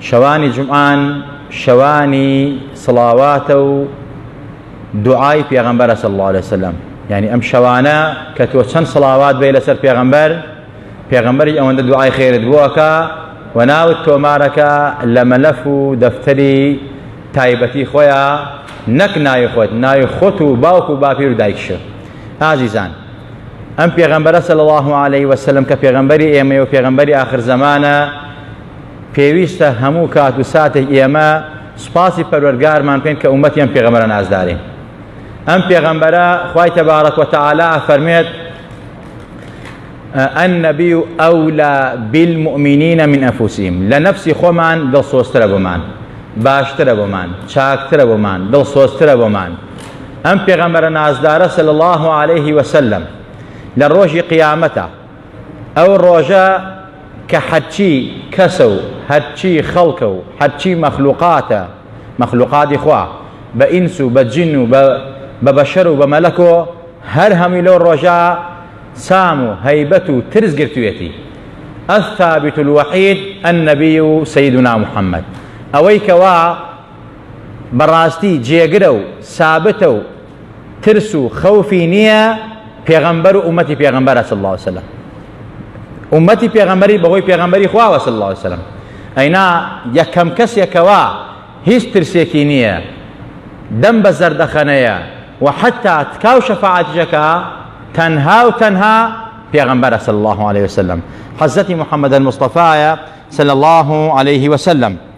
شەوانی جومعان شەوانی سڵاواتە و دوعای پێغەمبەرە صلی الله علیه وسلم یعنی ئەم شەوانە کە تۆ چەند سڵاوات بێ لەسەر پێغەمبەر پێغەمبەری ئەوەندە دوعای خێرت بووەکە و ناوت تۆمارەکە لە مەلەف و دەفتەری تایبەتی خۆیان نەک ناوی خۆت ناوی خۆت و باوک و باپیر و دایکشە ئازیزان ئەم پێغەمبەرە سەل الله عليه وسلم کە پێغەمبەری ئێمە و پێغەمبەری آخر زمانە پێویستە هەموو کات و ساتێک ئێمە سوپاسی پەروەرگارمان بکەین کە ئومەتی ئەم پێغەمبەرە نازدارین ئەم پێغەمبەرە خوای تەبارەک و تەعالا ئەفەرمێت النبی ئەولا بالمؤمنین من ئەنفسهم لە نەفسی خۆمان دڵسۆزترە بۆمان باشترە بۆمان چاکترە بۆمان دڵسۆزترە بۆمان ئەم پێغەمبەرە نازدارە صلی الله عليه وسلم لە ڕۆژی قیامەتە ئەو ڕۆژە کە هەرچی کەسە و هەرچی خەڵکە و هەرچی مەخلوقاتە، مەخلوقاتی خوا، بە ئینس و بە جن و بە بەشەر و بە مەلەکۆ، هەر هەمووی لەو ڕۆژە سام و هەیبەت و ترس گرتوویەتی. الثابت الوحید النبی سیدنا محمد، ئەوەی کەوا بە ڕاستی جێگرە و سابتە و، ترس و خەوفی نییە پێغەمبەر و ئومەتی پێغەمبەرە صلی الله علیه وسلم ئومەتی پێغەمبەری بەهۆی پێغەمبەری خواوە صلی الله علیه وسلم ئەینا یەکەم کەسێکەوە هیچ ترسێکی نییە دەم بە زەردەخەنەیە و حتا تکاو شەفاعەتیشەکە تەنها و تەنها پێغەمبەرە صلی الله عليه وسلم حەزەتی محمد المصطفى صلی الله عليه وسلم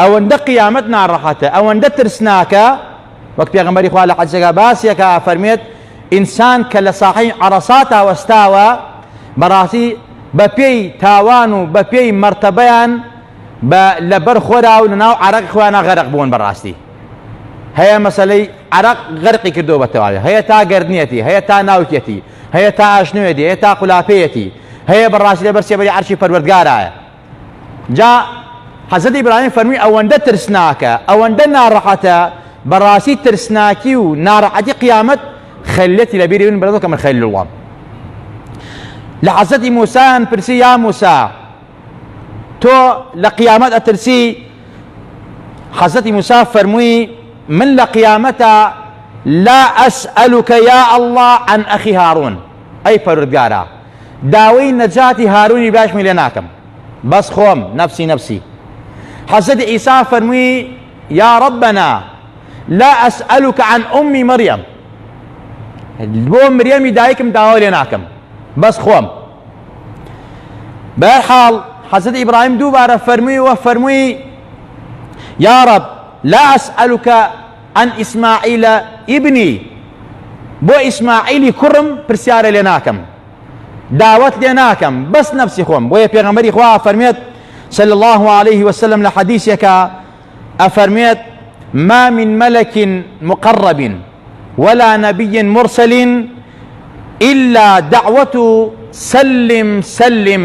ئەوەندە قیامەت ناڕەحەتە ئەوەندە ترسناکە وەک پێغەمبەری خوا لە حەدیسەکە باسیەکە فەرمێت ئینسان کە لە ساحەی عەرەساتا وەستاوە بەڕاستی بەپێی تاوان و بەپێی مەرتەبەیان بە لەبەر خۆرا و لەناو عرەق خۆیانە غەرق بوون بەڕاستی هەیە مەسلەی عرەق غەرقی کردو بە تەواوی هەیە تا گردنیەتی هەیە تا ناوکێتی هەیە تا ئاشنوێتی هەیە تا قولافەیەتی هەیە بەڕاستی لەبەر سێبەری عەرشی پەروەردگارایە جا حەزرەت ئیبراهیم فەرمی ئەوەندە ترسناکە ئەوەندە ناڕەحەتە بەڕاستی ترسناکی و ناڕەحەتی قیامەت خەلەتی لە بیری من بەرەکە من خەل وڵام لە حەزەتی موسایان پرسی یا موسا تۆ لە قیامەت ئەترسی حەزەتی موسا فەرمووی من لە قیامەتە لا ئەسئەلوکە یا ئەله عن ئەخی هارون ئەی پەروردگارا داوەی نەجاتی هارونی باشمی لێ ناکەم بەس خۆم نەفسی نەفسی حەزەتی عیسا فەرموی یا ربنا لا اسئلوک عن امی مریم بۆ مریەمی دایکم داوا لێ ناکەم بەس خۆم بەر حاڵ حەزەت ئیبراهیم دووبارە فەرموی وە فەرموی یا رب لا اسئلوک عن اسماعیل ابنی، بۆ ئیسماعیلی کوڕم پرسیارە لێ ناکەم داوەت لێ ناکەم بەس نەفسی خۆم بۆیە پێغەمبەری خوا فەرمێت صلی الله عليه وسلم لە حەدیثێکە ئەفەرمێت ما من ملك مقرب ولا نبي مرسل إلا دعوة سلم سلم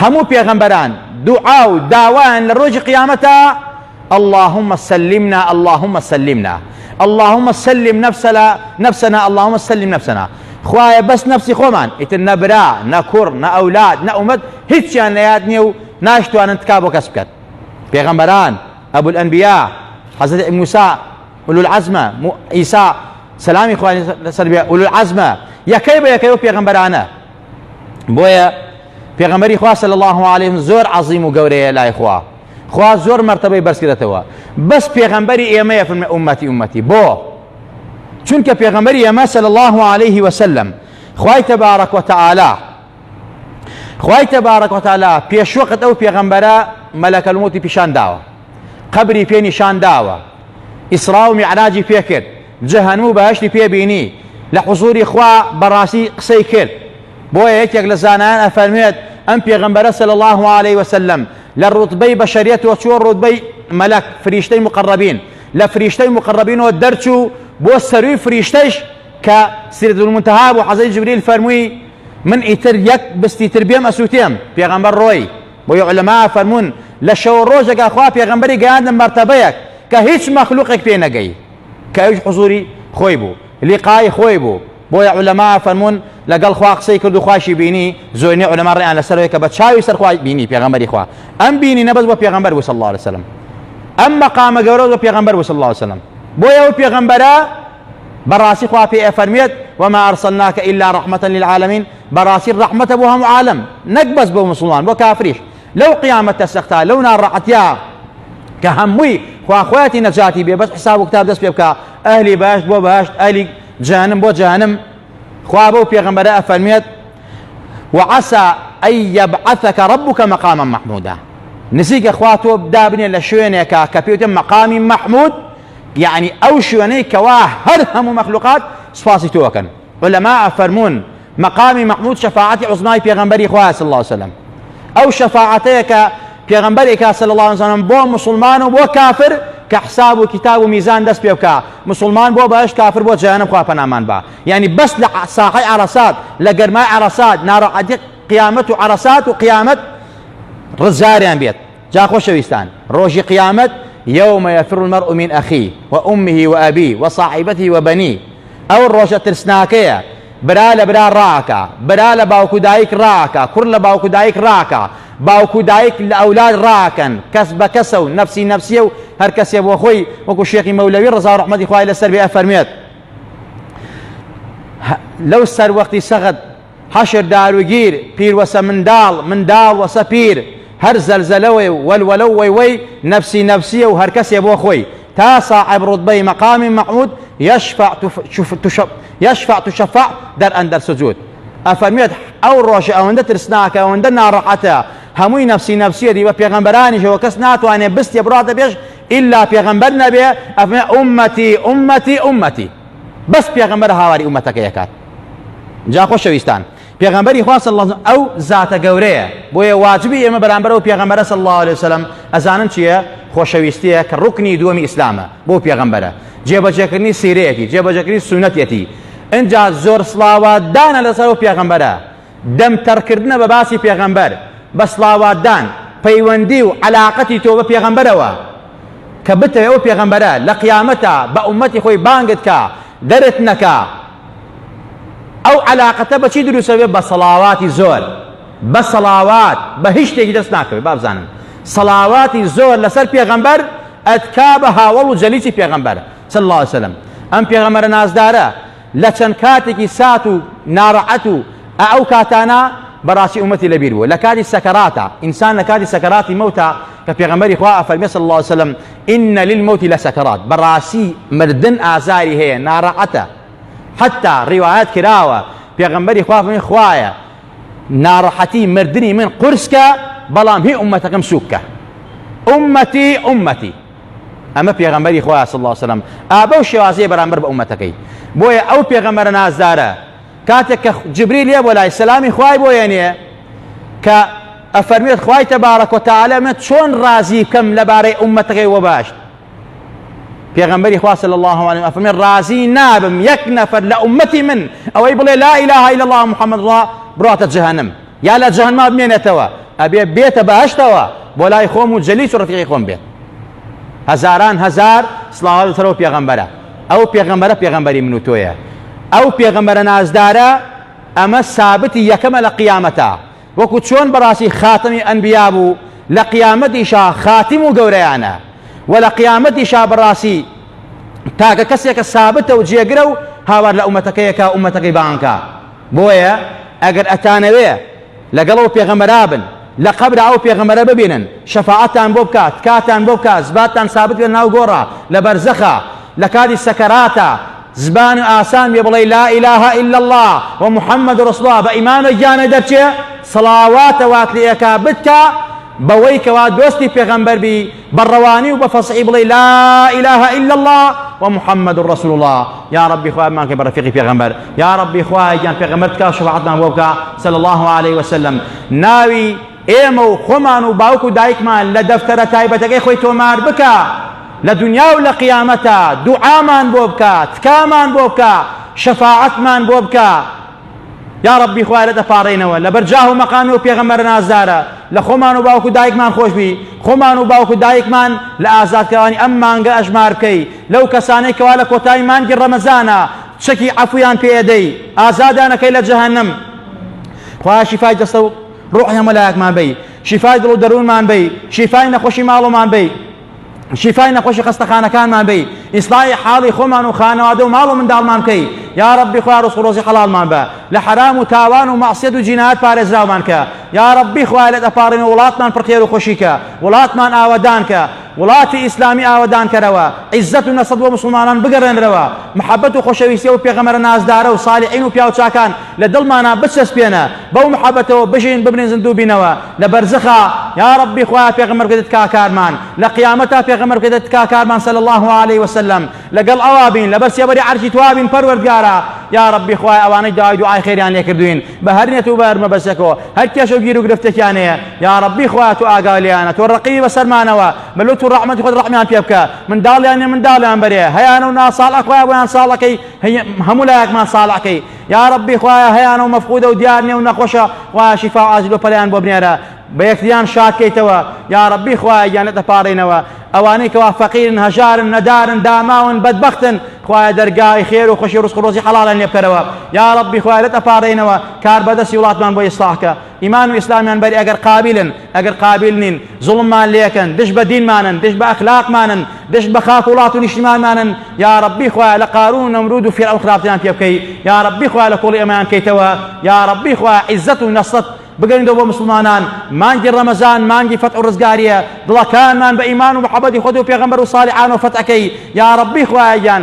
هەموو پێغەمبەران دوعا و داوایان لە ڕۆژی قیامەتە اللهم سلمنا اللهم سلمنا اللهم سلم نفسنا نفسنا اللهم سلم نفسنا خوایە بەس نفسی خۆمان ئیتر نەبرا نە کوڕ نە ئەولاد نە ئومەت هیچیان لە یاد نییە و ناشتوانن تکا بۆ کەس بکەن پێغەمبەران ئەبول ئەنبیا حەزرەت موسا أولو العزمە ئیسا سەلامی خوای لەسەر بێ أولو العزمە یەکەی بە یەکەی و پێغەمبەرانە بۆیە پێغەمەری خوا صلی الله علیه زۆر عظیم و گەورەیە لای خوا خوا زۆر مرتبەی بەرزکرێتەوە بەس پێغەمبەری ئێمەیە فرمە ئومەتی ئومەتی بۆ چونکە پێغەمبەری ئێمە صلی الله علیه وسلم خوای تبارک وتعالی خوای تبارک وتعالی پێش وەقت ئەو پێغەمبەرە مەلەکە الموتی پیشان داوە قبری پێ نیشان داوە ئیسرا و میعراجی پێکرد جەهەنمو بەهەشتی پێ بینی لە حزوری خوا بەڕاستی قسەی کرد بۆیە یەکێک لە زانایان ئەفەرموێت ئەم پێغەمبەرە صلی اللە علیە وسلم لە ڕوتبەی بەشەریەتەوە چوە ڕوتبەی مەلەک فریشتەی مقەڕەبین لە فریشتەی مقەڕەبینەوە دەرچوو بۆ سەروی فریشتەیش کە سیدرەت المنتها بوو حەزەی جبریل فەرمووی من ئیتر یەک بستی تر بێم ئەسوتێم پێغەمبەر ڕۆی بۆیە علەما فەرموون لە شەوە ڕۆژێکا خوا پێغەمبەری گەیاندە مەرتەبەیەک کە هیچ مەخلوقێک پێی نەگەی کە ئەویش حزوری خۆی بوو لیقای خۆی بوو بۆیە عولەما فەرموون لەگەڵ خوا قسەی کرد و خواشی بینی زۆرینەی عولەما ڕێیان لەسەرەوەی کە بە چاوی سەر خوای بینی پێغەمبەری خوا ئەم بینی نەبەز بۆ پێغەمبەر وصل الله عليه وسلم ئەم مەقامە گەورە بۆ پێغەمبەر وصل الله عليه وسلم بۆیە ئەو پێغەمبەرە بەڕاستی خوا پێ ئەفەرمێت وما أرسلناك إلا رحمة للعالمين بەڕاستی ڕحمەتە بۆ هەموو عالم نەک بەس بۆ مسلمان بۆ کافریش لەو قیامەتە سەختا لەو ناڕەعەتیا کە هەمووی خواخوایەتی نەجاتی بێ بەس حساب و کتاب دەست پێ بکە ئەهلی باشت بۆ باشت ئەلی جانم بۆ جانم خوا بەو پێغمبەرە ئەفەرمێت وعسى أن يبعثك ربك مقاما محمودا نزیکە خوا تۆ دابنێ لە شوێنێکە کە پێوتە مەقامی محمود یعنی ئەو شوێنەی کەوا هەر هەموو مەخلوقات سوپاسی تۆکەن عولەما فەرموون، مەقامی مەحمود شەفاعەتی عوزمای پێغەمبەری خوایە صلی اللە علیە وسلم، ئەو شەفاعەتەیە کە پێغەمبەر ئەیکا صلی اللە علیە وسلم بۆ موسڵمان و بۆ کافر کە حساب و کیتاب و میزان دەست پێ بکا، موسڵمان بۆ بەهەشت کافر بۆ جەهەنەم خوا پەنامان با. یانی بەس لە ساحەی عەرەسات لە گەرمای عەرەسات ناراحەتی قیامەت و عەرەسات و قیامەت ڕزگاریان بێت. جا خۆشەویستان ڕۆژی قیامەت یوم یفر المرء من اخیه و امه و ابیه و صاحبته و بنیه ئەو ڕۆژە ترسناکەیە برا لە برا ڕاکا برا لە باوک و دایک ڕاکا کوڕ لە باوک و دایک ڕاکا باوک و دایک لە ئەولاد ڕاکەن کەس بە کەسە و نەفسی نەفسیە و هەر کەسێ بۆ خۆی وەکو شێخی مەولەوی ڕزا ڕحمەتی خوای لەسەر بێ ئەفەرمێت لەو سەر وەختی سەغد حەشر داروگیر، پیر وەسە منداڵ، منداڵ وەسە پیر، هەر زەلزەلە و وەلوەلە و وەیوەی نەفسی نەفسییە و هەرکەسێ بۆ خۆی، تا ساحێب ڕوتبەی مەقامی مەحمود یەشفع یەشفع تشفع در اندر سجود ئەفەرموێت، ئەو ڕۆژە ئەوەندە ترسناکە، ئەوەندە ناڕەحەتە، هەمووی نەفسی نەفسییەتی، بە پێغەمبەرانیشەوە کەس ناتوانێ بستێ بڕاتە پێش ئیلا پێغەمبەر نەبێ، ئەفەرموێ، ئوممەتی ئوممەتی ئوممەتی. بەس پێغەمبەر هاواری ئومەتەکەی ئەکات جا خۆشەویستان پێغەمبەری خوا صلی الله ئەو زاتە گەورەیە بۆیە واجبی ئێمە بەرامبەر ئەو پێغەمبەرە صلی الله عليه وسلم ئەزانن چییە خۆشەویستیە کە ڕوکنی دووەمی ئیسلامە بۆ پێغەمبەرە جێبەجێکردنی سیرەیەتی جێبەجێکردنی سونەتەتی ئەجا زۆر سڵاوە دانە لەسەر و پێغەمبەرە دەم تەڕکردنە بە باسی پێغەمبەر بە سڵاواتدان پەیوەندی و عەلاقەتی تۆ بە پێغەمبەرەوە کە بتەوێ ئەو پێغەمبەرە لە قیامەتا بە ئومەتی خۆی بانگت کا دەرت نەکا ئەو عەلاقەتە بەچی دروسە بێ بە سەڵاواتی زۆر بە سەڵاوات بە هیچ شتێکی دەست ناکەوێت بابزانن سەڵاواتی زۆر لەسەر پێغەمبەر ئەتکا بە هاوەڵ و جەلیسی پێغەمبەر صلی الله عليه وسلم ئەم پێغەمبەرە نازدارە لە چەند کاتێکی سات و نارەعەت و ئە ئەو کاتانە بەڕاستی ئومەتی لە بیر بوو لە کاتی سەکەراتە ئینسان لە کاتی سەکەراتی مەوتا کە پێغەمبەری خوا ئەفەرمێ صلی الله علیه وسلم ان للموت لسکرات بەڕاستی مردن ئازاری هەیە ناڕەعەتە حتا ڕیوایەت کراوە پێغەمبەری خوا فەرمی خوایە ناڕەحەتی مردنی من قورسکە بەڵام هی ئومەتەکەم سوککە ئومەتی ئومەتی ئەمە پێغەمبەری خوا صلی اللە وسلم ئا بەو شێوازەیە بەرامبەر بە ئومەتەکەی بۆیە ئەو پێغەمبەرە نازدارە کاتێک کە جبریل یە بۆ لای سەلامی خوای بۆ یەنێ کە ئەفەرمێت خوای تەبارەک و تعالی من چۆن ڕازی بکەم لەبارەی ئومەتەکەی وە باشت پێغەمبەری خوا صلی الله علیه و ئەفەرمێت ڕازی نابم یەک نەفەر لە ئومەتی من ئەوەی بڵێ لا اله الا الله محمد ڕا بڕاتە جەهەنم یا لە جەهەنما بمێنێتەوە ئەبێ بێتە بەهشتەوە بۆ لای خۆم و جەلیس و ڕفیقی خۆم بێت هەزاران هەزار سڵاوە لەسەر و پێغەمبەرە ئەو پێغەمبەرە پێغەمبەری من و تۆیە ئەو پێغەمبەرە نازدارە ئەمە سابتی یەکەمە لە قیامەتە وەکو چۆن بەڕاستی خاتەمی ئەنبیا بوو لە قیامەتیشا خاتیم و گەورەیانە و لە قیامەتیشا بەڕاستی تاکە کەسێکە سابتە و جێگرە و هاوار لە ئومەتەکەیەکە ئومەتەکەی بانکە بۆیە ئەگەر ئەتانەوێ لەگەڵ ئەو پێغەمبەرا بن لە قەبرا ئەو پێغەمبەرە ببینن شەفاعەتتان بۆ بکا تکاتان بۆ بکا زباتتان سابت بێ ناو گۆڕا لە بەرزەخا لە کاتی سەکەراتە زبان و ئاسان بێ بڵێ لا ئیلاهە الا الله و محمد رسول الله بە ئیمامە گیانە دەرچێ سڵاواتە وات لێ ئەکا بتکا بەوەی کەوا دۆستی پێغەمبەر بی بە ڕەوانی و بە فەسحی بڵێی لا اله الا اللە و محمد و رسول اللە یا ربی خوای مانکە بە ڕەفیقی پێغەمبەر یا ربی خوای گیان پێغەمبەر تکا شفاعتمان بۆ بکە صلی الله علیه وسلم ناوی ئێمە و خۆمان و باوک و دایکمان لە دەفتەرە تایبەتەکەی خۆی تۆمار بکە لە دنیا و لە قیامەتە دوعامان بۆ بکە تکامان بۆ بکە شەفاعەتمان بۆ بکە یاڕەبی خوایە لێت ئەپاڕێینەوە لەبەر جاه و مەقامی ئەو پێغەمبەرە نازدارە لە خۆمان و باوک و دایکمان خۆشبی خۆمان و باوک و دایکمان لە ئازادکەوانی ئەم مانگە ئەژمار بکەی لەو کەسانەی کەوا لە کۆتایی مانگی ڕەمەزانە چەکی عەفویان پێدەی ئازادانەکەی لە جەهەنم خوایە شیفای دەستە و ڕۆحی هەموو لایەکمان بی شیفای دڵ و دەروونمان بی شیفای نەخۆشی ماڵۆمان بی شیفای نەخۆشی خەستەخانەکانمان بی ئیسلاحی حاڵی خۆمان و خانەوادە و ماڵ و منداڵمان بکەی یا ڕەبی خوای ڕزق و ڕۆزی حەڵاڵمان بە لە حەرام و تاوان و مەعسیەت و جینایەت پارێزراومان کە یا ڕەبی خوای لێت ئەپاڕین و وڵاتمان پڕخێر و خۆشی کە وڵاتمان ئاوەدان کە وڵاتی ئیسلامی ئاوەدان کەرەوە عیزەت و نەسەت بۆ مسلمانان بگەڕێنرەوە محەبەت و خۆشەویستی و پێغەمەرە نازدارە و صالحین و پیاوچاکان لە دڵمانا بچەسپێنە بەو محەبەتەوە بژین بمرین زندوو بینەوە لە بەرزەخا یاڕەبی خوایە پێغەمبەر بکەیتە تکاکارمان لە قیامەتا پێغەمبەر بکەیتە تکاکارمان صلی الله علیه وسلم لەگەڵ ئەوا بین لەبەر سێبەری عەرشی توا بین پەروەردگارا یاڕەبی خوای ئەوانەی داوای دوعای خێریان لێکردوین بە هەر نێت و بە هەر مەبەستێکەوە هەر کێشە و گیر و گرفتێکیان هەیە یاڕەبی خوای تۆ ئاگای لێیانە تۆ ڕەقیبی بەسەرمانەوە بە لوت و ڕەحمەتی خۆت ڕەحمیان پێ بکە منداڵیان نێ منداڵیان بەرێ هەیانە و ناساڵح خوای بۆیان ساڵەکەی هەموو لایەکمان ساڵحکەی یاڕەبی خوایە هەیانە و مەفقودە و دیار نیە و نەخۆشە خوایە شیفا و ئاجل بەپەلەیان بۆ بنێرە بە یەکتریان شاد کەیتەوە یاڕەبی خوایە گیانت ئەپاڕێنەوە ئەوانەی کەوا فەقیرن هەژارن نەدارن داماون بەدبەختن خوایە دەرگای خێر و خوشی ڕزق و ڕۆزی حەڵاڵیان لێ بکەرەوە یاڕەبی خوایە لێت ئەپاڕێنەوە کاربەدەستی وڵاتمان بۆ ئیسڵاح کە ئیمان و ئیسلامیان بەری ئەگەر قابلن ئەگەر قابل نین زوڵممان لێکەن دش بە دینمانن دش بە ئەخلاقمانن دش بە خاک وڵات و نیشتمانمانن یا ڕبی خوایە لە قارون و نەمرود و فێرعەون خراپتیان پێ بکەی یا ڕبی خوایە لە کۆڵی ئەمەیان کەیتەوە یا ڕبی خوایە عیزەت و نەسرەت بگەینەوە بۆ مسلمانان مانگی ڕەمەزان مانگی فەت و ڕزگاریە دڵەکانمان بە ئیمان و محەبەتی خۆت و پێغەمبەر و ساڵحان و فەتەکەی یا ڕبی خوایە گیان